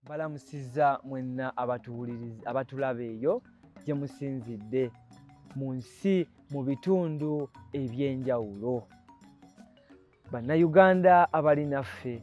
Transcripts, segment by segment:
Balamusizza mwenna abatuwuliriza abatulaba eyo gye musinzidde mu nsi mu bitundu eby'enjawulo bannayuganda abali naffe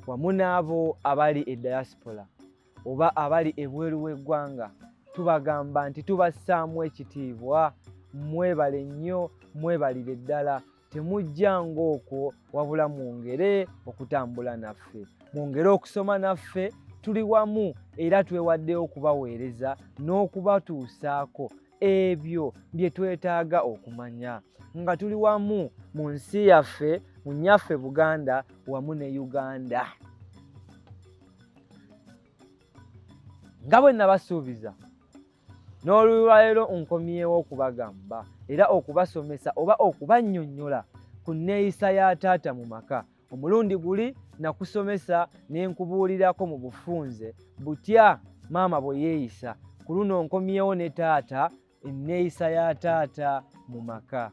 wamu n'abo abali e diaspora oba abali ebweru w'eggwanga tubagamba nti tubassaamu ekitiibwa mwebale nnyo mwebalire ddala temujja ng'okwo wabula mwongere okutambula naffe mwongere okusoma naffe tuli wamu era twewaddeyo okubaweereza n'okubatuusaako ebyo bye twetaaga okumanya nga tuli wamu mu nsi yaffe mu nnyaffe buganda wamu ne uganda nga bwe nabasuubiza n'olulwaleero nkomyewo okubagamba era okubasomesa oba okubannyonnyola ku nneeyisa ya taata mu maka omulundi guli nakusomesa ne nkubuulirako mu bufunze butya maama bwe yeeyisa ku luno nkomyewo ne taata enneeyisa ya taata mu maka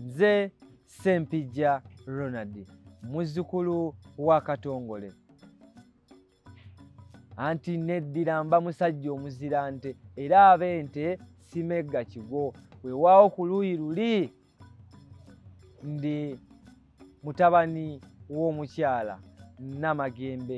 nze sempijja ronald muzzukulu wa katongole anti neddira mba musajja omuzira nte era abe nte simegga kigo wewaawo ku luuyi luli ndi mutabani w'omukyala namagembe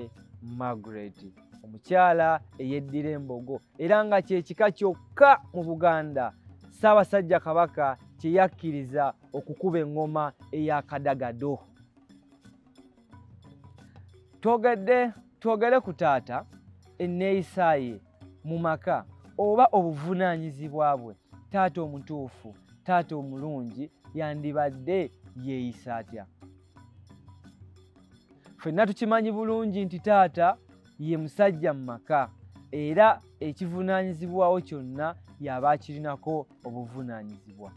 margaret omukyala eyeddira embogo era nga kyekika kyokka mu buganda ssaabasajja kabaka kye yakkiriza okukuba eŋŋoma eyakadagado twogedde twogere ku taata enneeyisa ye mu maka oba obuvunaanyizibwa bwe taata omutuufu taata omulungi yandibadde yeeyisa atya fenna tukimanyi bulungi nti taata ye musajja mu maka era ekivunaanyizibwawo kyonna y'aba akirinako obuvunaanyizibwa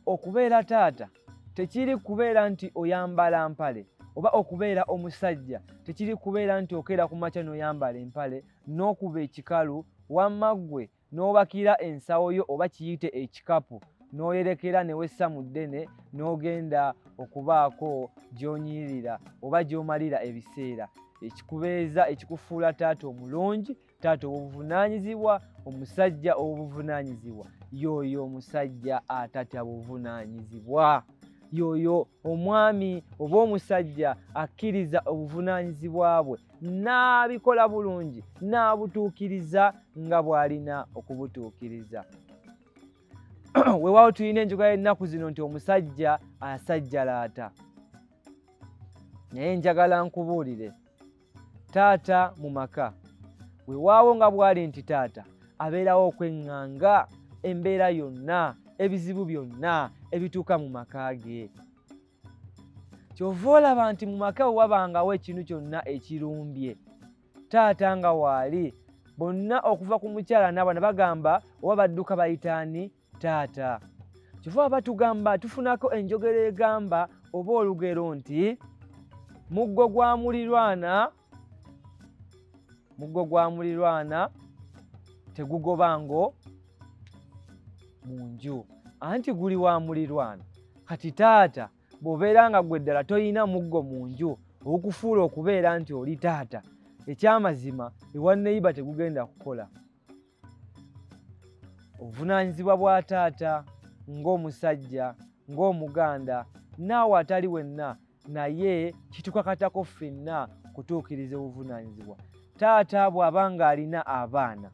okubeera taata tekiri kubeera nti oyambala mpale oba okubeera omusajja tekiri kubeera nti okeera ku makya n'oyambala empale n'okuba ekikalu wamma ggwe n'obakira ensawo yo oba kiyite ekikapu n'oyerekera ne wessa mu ddene n'ogenda okubaako gy'onyirira oba gy'omalira ebiseera ekikubeeza ekikufuula taata omulungi taata obuvunaanyizibwa omusajja obuvunaanyizibwa yooyo omusajja atatya buvunaanyizibwa yooyo omwami oba omusajja akkiriza obuvunaanyizibwa bwe n'abikola bulungi n'abutuukiriza nga bw'alina okubutuukiriza weewaawo tulina enjoga y'ennaku zino nti omusajja asajjalaata naye njagala nkubuulire taata mu maka wewaawo nga bwali nti taata abeerawo okweŋŋanga embeera yonna ebizibu byonna ebituuka mu maka ge kyova olaba nti mu maka we wabangawo ekintu kyonna ekirumbye taata nga waali bonna okuva ku mukyala naabana bagamba oba badduka bayitaani taata kyova batugamba tufunako enjogera egamba oba olugero nti muggo gwa mulirwana muggo gwa mulirwana tegugoba ngo mu nju anti guli wa mulirwana kati taata bw'obeera nga gwe ddala tolina muggo mu nju okufuula okubeera nti oli taata ekyamazima ewa neyiba tegugenda kukola obuvunaanyizibwa bwa taata ng'omusajja ng'omuganda naawe atali wenna naye kitukakatako ffenna kutuukiriza obuvunaanyizibwa taata bw'aba ng'alina abaana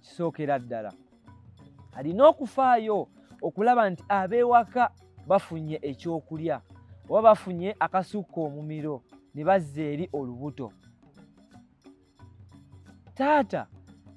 kisookera ddala alina okufaayo okulaba nti ab'ewaka bafunye ekyokulya oba bafunye akasukka omumiro ne bazza eri olubuto taata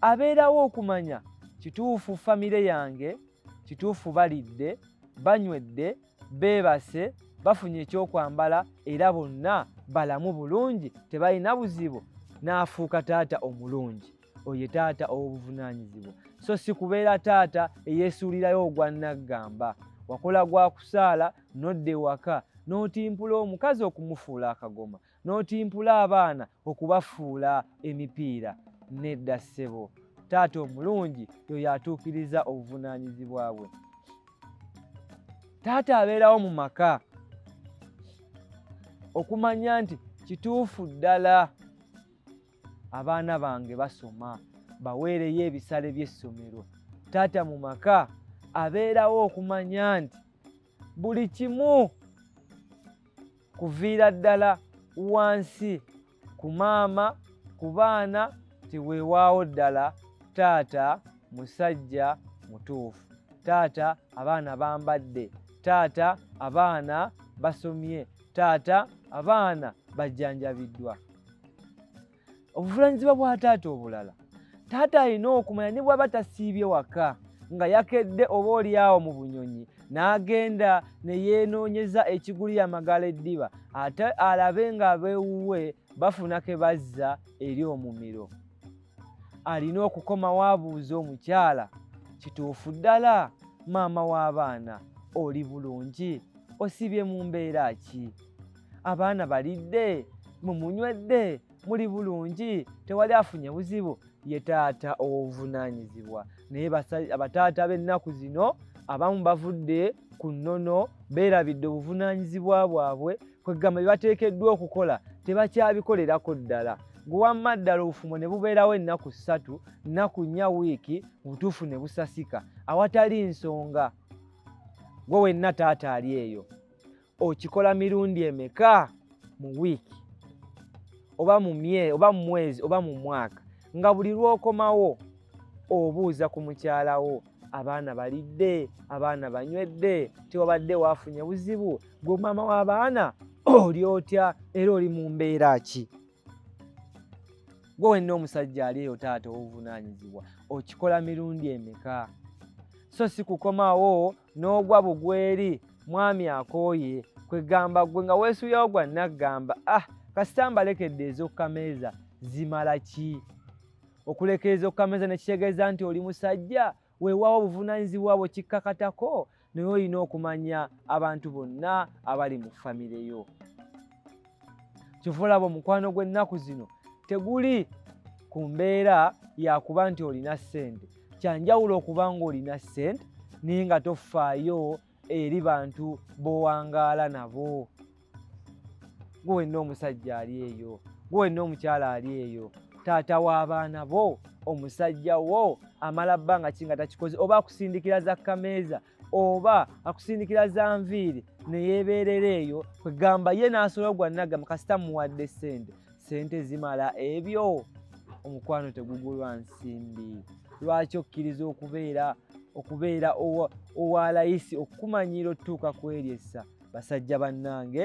abeerawo okumanya kituufu famire yange kituufu balidde banywedde beebase bafunye ekyokwambala era bonna balamu bulungi tebalina buzibu n'afuuka taata omulungi oyo taata ow'obuvunaanyizibwa so si kubeera taata eyeesuulirayo ogwa nnaggamba wakola gwa kusaala nodda ewaka n'otimpula omukazi okumufuula akagoma n'otimpula abaana okubafuula emipiira nedda ssebo taata omulungi yoyo atuukiriza obuvunaanyizibwa bwe taata abeerawo mu maka okumanya nti kituufu ddala abaana bange basoma baweereyo ebisale by'essomero taata mu maka abeerawo okumanya nti buli kimu kuviira ddala wansi ku maama ku baana nti weewaawo ddala taata musajja mutuufu taata abaana bambadde taata abaana basomye taata abaana bajjanjabiddwa obuvunaanyizibwa bwa taata obulala taata alina okumanya ne bwaba tasiibye waka nga yakedde oba olyawo mu bunyonyi n'agenda ne yeenoonyeza ekigulira amagala eddiba ate alabe ng'abeewuwe bafuna ke bazza eri omumiro alina okukomawo abuuza omukyala kituufu ddala maama w'abaana oli bulungi osibye mu mbeera ki abaana balidde mumunywedde muli bulungi tewali afunye buzibu ye taata owobuvunaanyizibwa naye abataata b'ennaku zino abamu bavudde ku nnono beerabidde obuvunaanyizibwa bwabwe kwegamba bye bateekeddwa okukola tebakyabikolerako ddala gwe wamma ddala obufumo ne bubeerawo ennaku ssatu nnaku nnya wiiki mu butuufu ne busasika awatali nsonga gwe wenna taata ali eyo okikola mirundi emeka mu wiiki oba mu mye oba mu mwezi oba mu mwaka nga buli lw'okomawo obuuza ku mukyala wo abaana balidde abaana banywedde tewabadde waafunye buzibu gwe maama w'abaana oli otya era oli mu mbeera ki gwe wenna omusajja ali eyo taata owuvunaanyizibwa okikola mirundi emeka so si kukomawo n'ogwa bugweri mwami akooye kwegamba gwe nga weesuyawo gwa naggamba ah kasita mbalekedde ez'okukameeza zimala ki okuleka ez'okukameeza ne kitegeeza nti oli musajja weewaawo obuvunaanyizibwa bwe kikkakatako naye olina okumanya abantu bonna abali mu famire yo kyova olaba omukwano gw'ennaku zino teguli ku mbeera yakuba nti olina ssente kyanjawulo okuba ng'olina ssente naye nga tofaayo eri bantu bowangaala nabo gwe wenna omusajja ali eyo gwe wenna omukyala ali eyo taata w'abaana bo omusajja wo amala bbanga ki nga takikoze oba akusindikira za kameeza oba akusindikira za nviiri neyebeerera eyo kwegamba ye n'asolo gwa nagamba kasita muwadde sente sente zimala ebyo omukwano tegugulwa nsimbi lwaki okkiriza okubeera okubeera owa layisi okukumanyiira otutuuka kweryessa basajja bannange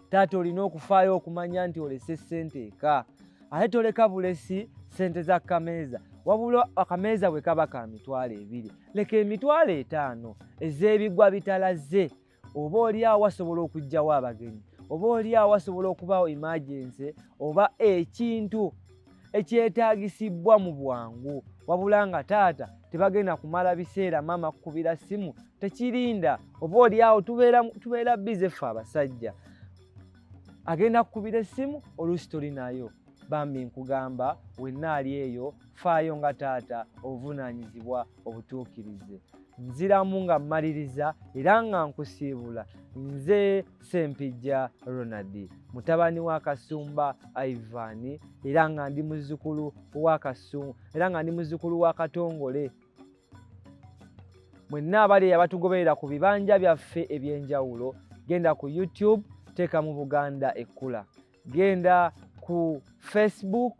taata olina okufaayo okumanya nti olese ssente eka ate toleka bulesi ssente za kameeza wabula akameeza bwe kaba ka mitwalo ebiri leka emitwalo etaano ez'ebigwa bitalaze oba oli awo asobola okugjawo abagenyi oba oli awo asobola okubaawo imagense oba ekintu ekyetaagisibbwa mu bwangu wabula nga taata tebagenda kumala biseera maama kukubira ssimu tekirinda oba oli awo tubeera bize ffe abasajja agenda kukubira essimu oluusi toli nayo bambi nkugamba wenna ali eyo faayo nga taata obuvunaanyizibwa obutuukirize nziramu nga mmaliriza era nga nkusiibula nze sempijja ronald mutabani wa kasumba ivan era nga ndi muzukulu wa kasu era nga ndi muzukulu wa katongole mwenna abali abatugoberera ku bibanja byaffe eby'enjawulo genda ku youtube teeka mu buganda ekkula genda ku facebook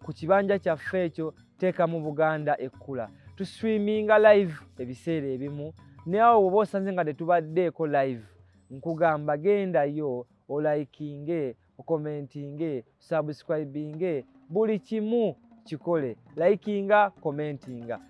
ku kibanja kyaffe ekyo teeka mu buganda ekkula tuswiminga live ebiseera ebimu nawe woba osanze nga tetubaddeeko live nkugamba gendayo olaikinge okomentinge osubscribinge buli kimu kikole likinga komentinga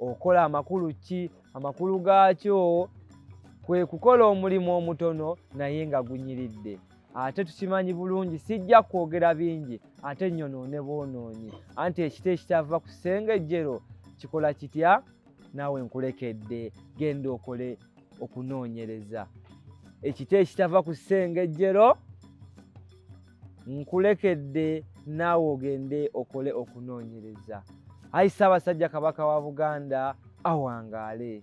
okola amakulu ki amakulu gaakyo kwe kukola omulimu omutono naye nga gunyiridde ate tukimanyi bulungi sijja kwogera bingi ate nyonoone boonoonyi anti ekita ekitava ku sengejjero kikola kitya naawe nkulekedde genda okole okunoonyereza ekita ekitava ku sengejjero nkulekedde naawe ogende okole okunoonyereza. Ayi Ssaabasajja Kabaka wa Buganda awangaale.